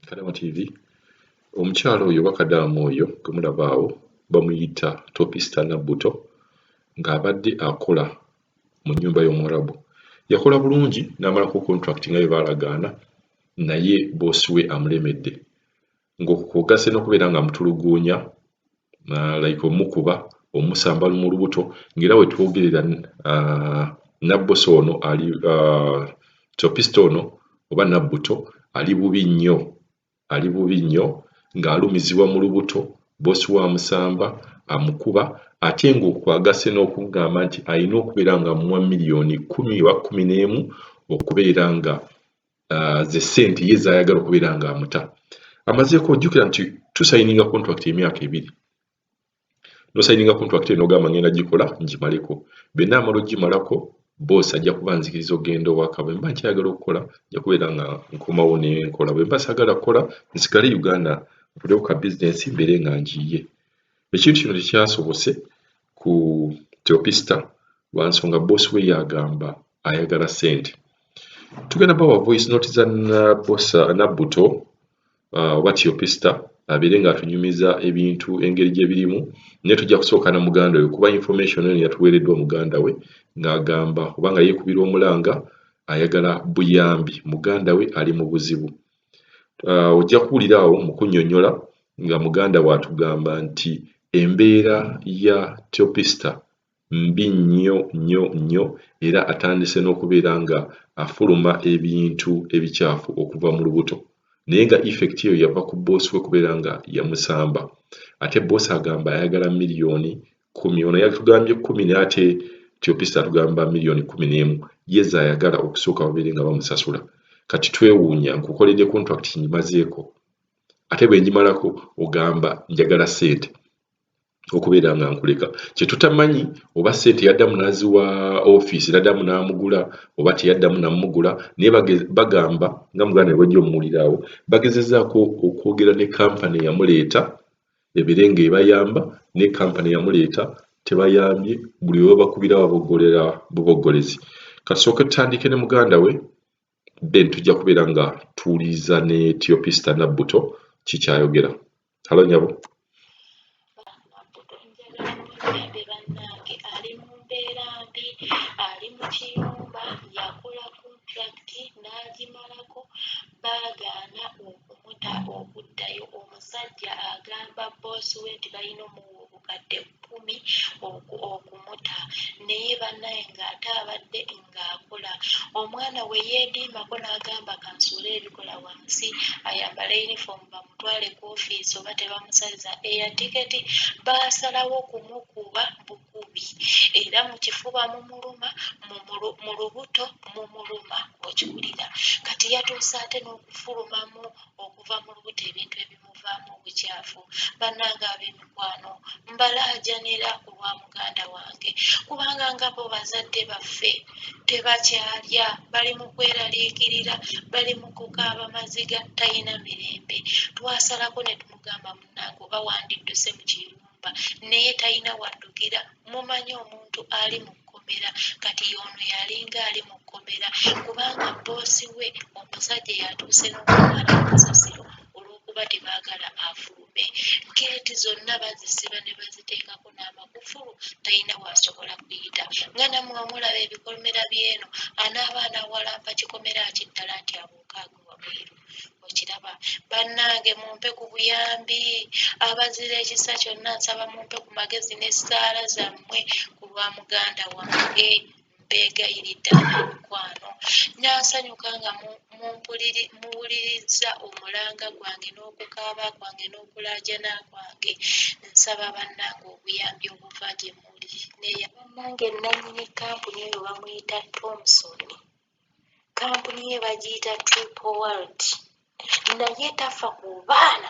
Kadaama TV omukyala oyo oba kadaama oyo gwe mulaba awo bamuyita topista nabbuto ng'abadde akola mu nnyumba y'omuwarabu yakola bulungi n'amalako contract nga bye baalagaana naye boosi we amulemedde ng'okwogase n'okubeera ng'amutuluguunya uh, like omukuba omusamba mu lubuto ng'era we twogerera uh, nabbosa ono ali uh, topista ono oba nabbuto ali bubi nnyo ali bubi nnyo ng'alumizibwa mu lubuto bosi wa musamba amukuba ate ng'okwagase n'okugamba nti alina okubeera nga muwa miliyoni kumi oba kumi n'emu okubeera nga uh, ze sente ye zayagala okubeera nga amuta amazeeko ojjukira nti tusayininga contract emyaka ebiri nosayininga contract eno ogamba ngenda gikola ngimaleko bena amala ogimalako bosi ajja kuba nzikiriza okugenda owaka bwemba nkyayagala okukola nja kubeera nga nkomawo nenkola bwemba sagala kukola nsigale uganda nkolewo ka bizinesi mbeere nga njiiye Ekintu kino tekyasobose ku Teopista lwa nsonga boss we yagamba ayagala sente. Tugenda bawa voice note za Nabosa Nabuto uh, oba Teopista abeere nga atunyumiza ebintu engeri gye birimu naye tujja kusooka na muganda we kuba information eno yatuweereddwa muganda we ng'agamba oba nga yeekubira omulanga ayagala buyambi muganda we ali mu buzibu ojja kuwulira awo mu kunnyonnyola nga muganda we atugamba nti embeera ya Teopista mbi nnyo nnyo nnyo era atandise n'okubeera nga afuluma ebintu ebikyafu okuva mu lubuto naye nga effect eyo yava ku bboosi we kubeera nga yamusamba ate bboosi agamba ayagala miliyoni kumi ono yatugambye kumi naye ate tiopista atugamba miliyoni kumi n'emu ye zayagala okusooka babeere nga bamusasula kati twewuunya nkukoledde contract ngimazeeko ate bwe ngimalako ogamba njagala ssente okubeera nga nkuleka kyetutamanyi oba sente yaddamu naziwa ofiisi naddamu namugula oba teyaddamu namugula naye bagamba nga muganda webajja omuwuliraawo bagezezaako okwogera ne kampani eyamuleeta ebere nga ebayamba ne company yamuleeta tebayambye buli webabakubira babogolera bubogolezi kasooke tutandike ne muganda we then tujja kubeera nga tuwuliriza ne tiopista nabbuto kikyayogera halo nyabo baagaana okumuta okuddayo omusajja agamba boosi we nti balina omuwa obukadde kkumi okumuta naye banaye ng'ate abadde ng'akola omwana we yeediimako n'agamba kansuule ebikola wansi ayambala yunifoomu bamutwale ku ofiisi oba tebamusaliza eya tiketi baasalawo kumukuba bubi era mu kifuba mumuluma, mu lubuto mumuluma okiwulira kati yatuuse ate n'okufulumamu okuva mu lubuto ebintu ebimuvaamu obukyafu bannange ab'emikwano mbalaajanira ku lwa muganda wange kubanga nga bo bazadde baffe tebakyalya bali mu kweraliikirira bali mu kukaaba maziga talina mirembe twasalako ne tumugamba munnange oba wandidduse mu kiyumba mubba naye talina waddukira mumanyi omuntu ali mu kkomera kati y'ono yalinga ali mu kkomera kubanga bboosi we omusajja yatuuse n'okumala amasasiro olw'okuba tebaagala afulume geeti zonna bazisiba ne baziteekako n'amakufulu talina waasobola kuyita nga namwe omulaba ebikomera by'eno anaaba anawalampa kikomera kiddala nti abuukaaga wabweru okiraba bannange mumpe ku buyambi abazira ekisa kyonna nsaba mumpe ku magezi n'essaala zammwe ku lwa muganda wange mbeegayiridde mikwano nansanyuka nga muwulirizza omulanga gwange n'okukaaba kwange n'okulaajana kwange nsaba bannange obuyambi obuva gye muli neya bannange nnannyini kkampuni eyo bamuyita thomson kampuni ye bagiyita triple world naye tafa ku baana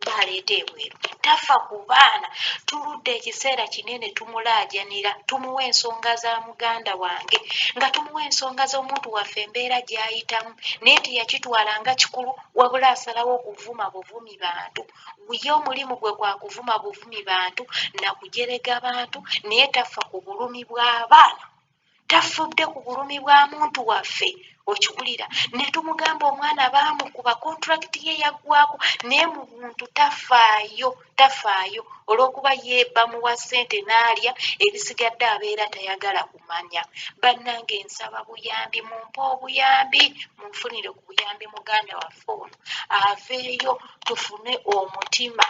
baleeta ebweru tafa ku baana tuludde ekiseera kinene tumulaajanira tumuwa ensonga za muganda wange nga tumuwa ensonga z'omuntu waffe embeera gy'ayitamu naye teyakitwala nga kikulu wabula asalawo okuvuma buvumi bantu ye omulimu gwe gwa kuvuma buvumi bantu nakujerega bantu naye tafa ku bulumi bw'abaana tafudde ku bulumi bwa muntu waffe okiwulira netumugamba omwana baamukuba kontulakiti ye yaggwako naye mu buntu tafaayo tafaayo olwokuba ye bamuwa ssente n'alya ebisigadde abeera tayagala kumanya bannange nsaba buyambi mumpe obuyambi munfunire ku buyambi muganda waffe ono aveeyo tufune omutima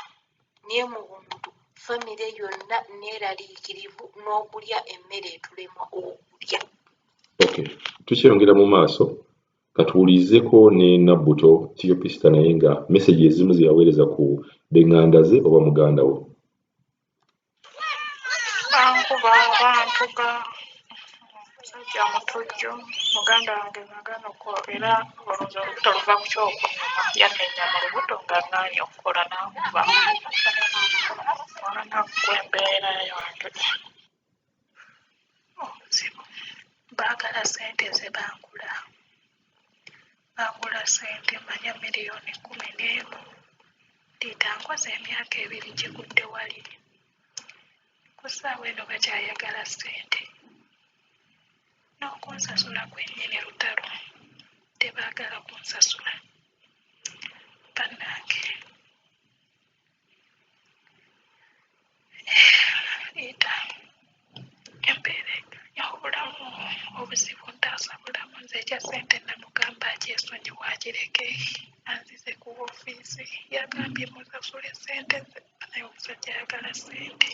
Naye mu buntu famire yonna nneeraliikirivu n'okulya emmere etulemwa okulya. Okay. Tukyeyongera mu maaso katuwulirizeko ne Nabbuto Theopista naye nga message ezimu zeyaweereza ku benganda ze oba muganda we. bankuba bantuga musajja mutujju muganda wange nagana okukola era olwoza olubuto luva ku kyoko yannenya mu lubuto nga ngaanye okukola n'ankuba mwana ggwe embeera yange mu buzibu baagala ssente ze bangula bangula ssente manya miliyoni kkumi n'emu liita nkoze emyaka ebiri gigudde wali ku ssaawa eno bakyayagala ssente n'okunsasula kwennyini lutalo tebaagala kunsasula bannange leeta embeera obulamu obuzibu ntaasa bulamu nze ekya ssente namugamba akyesonyiwe akireke anzize ku ofiisi yagambye musasule ssente ze naye omusajja ayagala ssente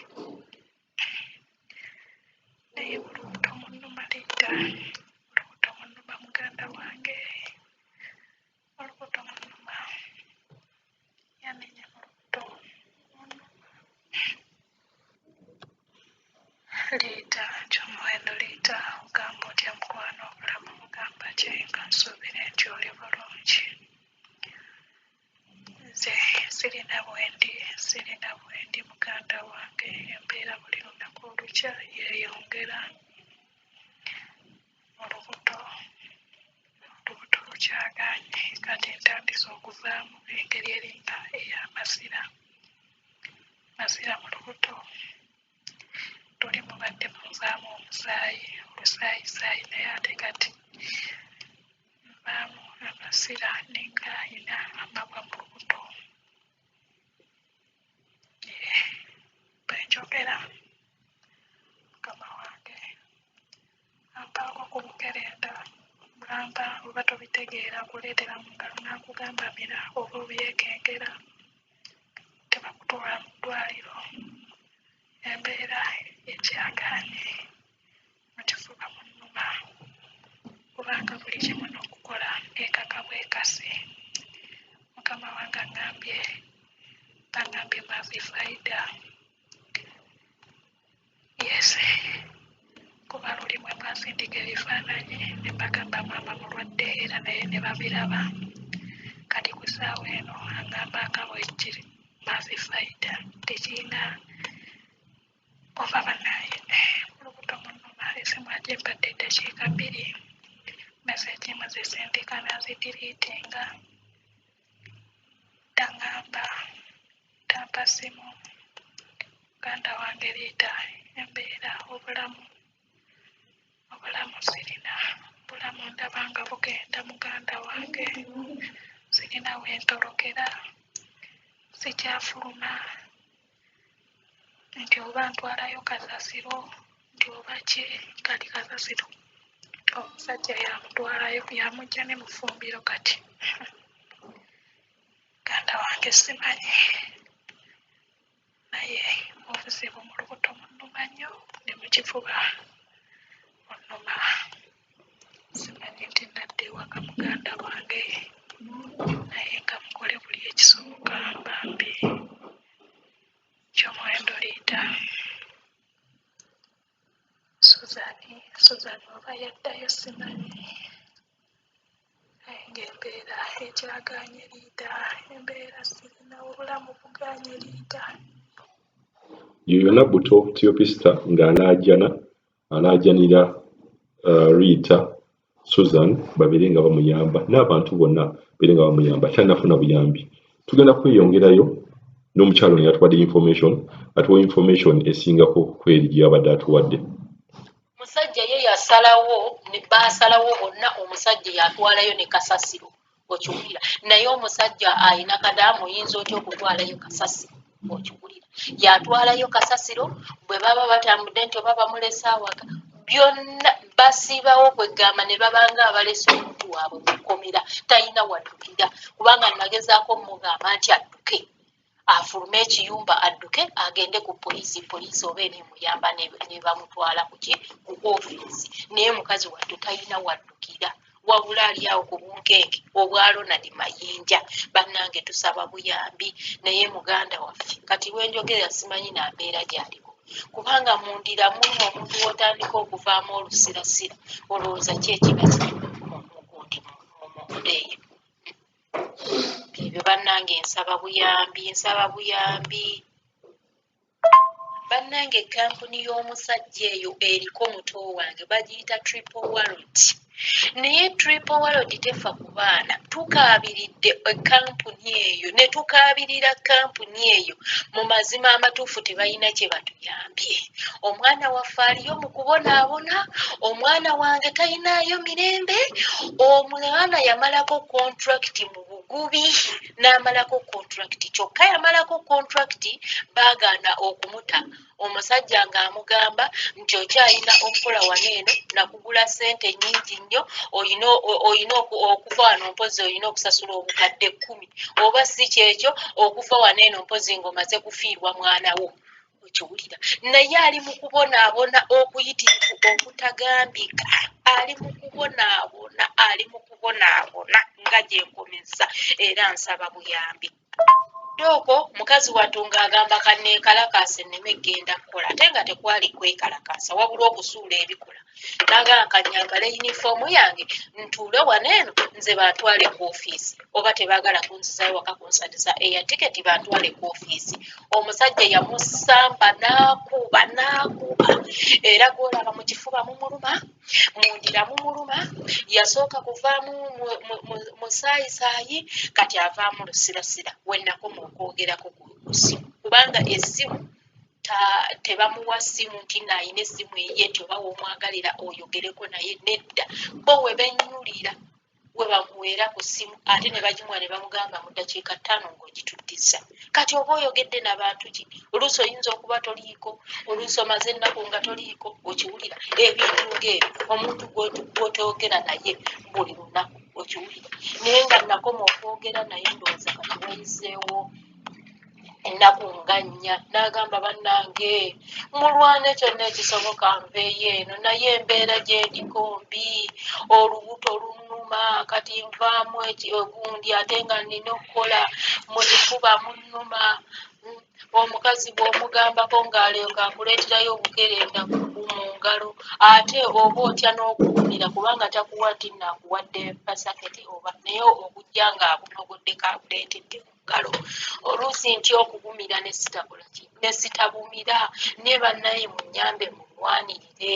naye olubuto munuma leeta olubuto munuma muganda wange olubuto mulumba yamenya olubuto liita kyomuwendo liita ogamba otya mukwano obulamu mugamba ki nga nsuubire nti oli bulungi nze sirina bwendi sirina bwendi muganda wange embeera buli lunaku olukya yeeyongera olubuto olubuto lukyagaanye kati ntandise okuvaamu engeri eringa ey'amasira masira mu lubuto luli mubadde munvaamu omusaayi omusaayisaayi naye ate kati nvaamu amasira ninga alina amabwa mu lubuto bwenjogera mukama wange Ampaako ku bukerenda ng'ampa oba tobitegeera akuleetera mu ngalo n'akugamba mira oba obyekengera tebakutwala mu ddwaaliro embeera ekyagaanye mu kifuba munnuma kubanga buli kimu n'okukola ekaka bwekasi mukama wange aŋambye bangambye mavi faida yeeseeye kuba lulimu emwasindika ebifaananyi ne mbagamba maama mulwadde era naye ne babiraba kati ku ssaawa eno angamba nga bwekiri mafi faida tekirina oba banaye eh, olubuto munuma esimu aje mbadde eddakiika bbiri meseji muzisindika nazidiriitinga Taŋŋamba, tampa ssimu, muganda wange leeta embeera obulamu, obulamu sirina, obulamu ndaba nga bugenda muganda wange, sirina we ntorokera, sikyafuluma. nti oba ntwalayo kasasiro nti oba ki kati kasasiro omusajja yamutwalayo yamujja ne mufumbiro kati muganda wange simanyi naye obuzibu mu lubuto munuma nnyo ne mu kifuba munuma Simanyi nti nadda ewaka muganda wange naye nga mukole buli ekisoboka bambi kyomuwendo liida suzani suzani oba yaddayo simanyi naye ngaembeera ekyaganye liida embeera sirina obulamu buganye liida yoyo nabbuto tiyopista ng'alaajana alaajanira Riita Susan babeere nga bamuyamba n'abantu bonna beere nga bamuyamba kyanafuna buyambi tugenda kweyongerayo n'omukyalo ono yatuwadde information atuwa information esingako kweri gyeyabadde atuwadde musajja ye yasalawo baasalawo bonna omusajja yatwalayo ne kasasiro okiwulira naye omusajja alina kadaamu oyinza otya okutwalayo kasasi okiwulira yatwalayo kasasiro bwe baba batambudde nti oba bamulese awaka byonna basiibawo kwegamba ne babanga abalese omuntu waabwe mukomera talina waddukira kubanga nagezaako mugamba nti adduke afulume ekiyumba adduke agende ku poliisi poliisi oba enemuyamba nebamutwala kuki ku ofiisi naye mukazi wattu talina waddukira wabula ali awo ku bunkeeke obwa ronald mayinja bannange tusaba buyambi naye muganda waffe kati wenjogera simanyi nambeera gyaliwo kubanga mundira mulimu omuntu wotandika okuvaamu olusirasira olowooza ki ekiba kiri mukundi mumudeeyo ebyo bannange nsaba buyambi nsaba buyambi bannange kampuni y'omusajja eyo eriko muto wange bagiyita triple warrant naye triple warrant tefa ku baana tukaabiridde ekampuni eyo ne tukaabirira kampuni eyo mu mazima amatuufu tebalina kye batuyamba bambi omwana waffe aliyo mu kubonaabona omwana wange talinaayo mirembe omwana yamalako kontrakiti mu bugubi n'amalako kontrakiti kyokka yamalako kontrakiti baagaana okumuta omusajja ng'amugamba nti okyalina okukola wano eno nakugula ssente nyingi nnyo olina okuva wano mpozi olina okusasula obukadde kkumi oba si kyekyo okuva wano eno mpozi ng'omaze kufiirwa mwanawo okiwulira naye ali mu kubonaabona okuyitirivu okutagambika ali mu kubonaabona ali mu kubonaabona nga gyenkomezza era nsaba buyambi dooko mukazi wattu ng'agamba kanneekalakaasa enneme kgenda kukola ate nga tekwali kwekalakaasa wabula okusuula ebikola nagamba kanyambala yunifoomu yange ntuule wano eno nze bantwale ku ofiisi oba tebagala kunzizayo waka kunsaliza eya tiketi bantwale ku ofiisi omusajja yamusamba nakuba nakuba era gwolaba mu kifuba mumuluma mundira mumuluma yasooka kuvaamu musaayisayi kati avaamu lusirasira wenakoma okwogerako kusimu kubanga esimu tebamuwa simu nti nayina esimu eye nti oba womwagalira oyogereko naye nedda bo webenyulira we bamuweera ku ssimu ate ne bagimuwa ne bamugamba mu ddakiika ttaano ng'ogituddizza kati oba oyogedde na bantu ki oluusi oyinza okuba toliiko oluusi omaze ennaku nga toliiko okiwulira ebintu ng'ebyo omuntu gw'otoogera naye buli lunaku okiwulira naye nga nakoma okwogera naye ndowooza kati wayizzeewo ennaku nga nnya n'agamba bannange mulwane kyonna ekisoboka nveeyo eno naye embeera gyendiko mbi olubuto lunuma kati nvaamu egundi ate nga nina okukola mu kifuba munuma omukazi bw'omugambako ng'alyoka akuleeterayo obukerenda mu ngalo ate oba otya n'okuwumira kubanga takuwa nti naakuwadde pasaketi oba naye okujja ng'akunogoddeko akuleeteddemu ngalo oluusi nti okugumira nesitabula nesitabumira ne bannaye munyambe mulwanirire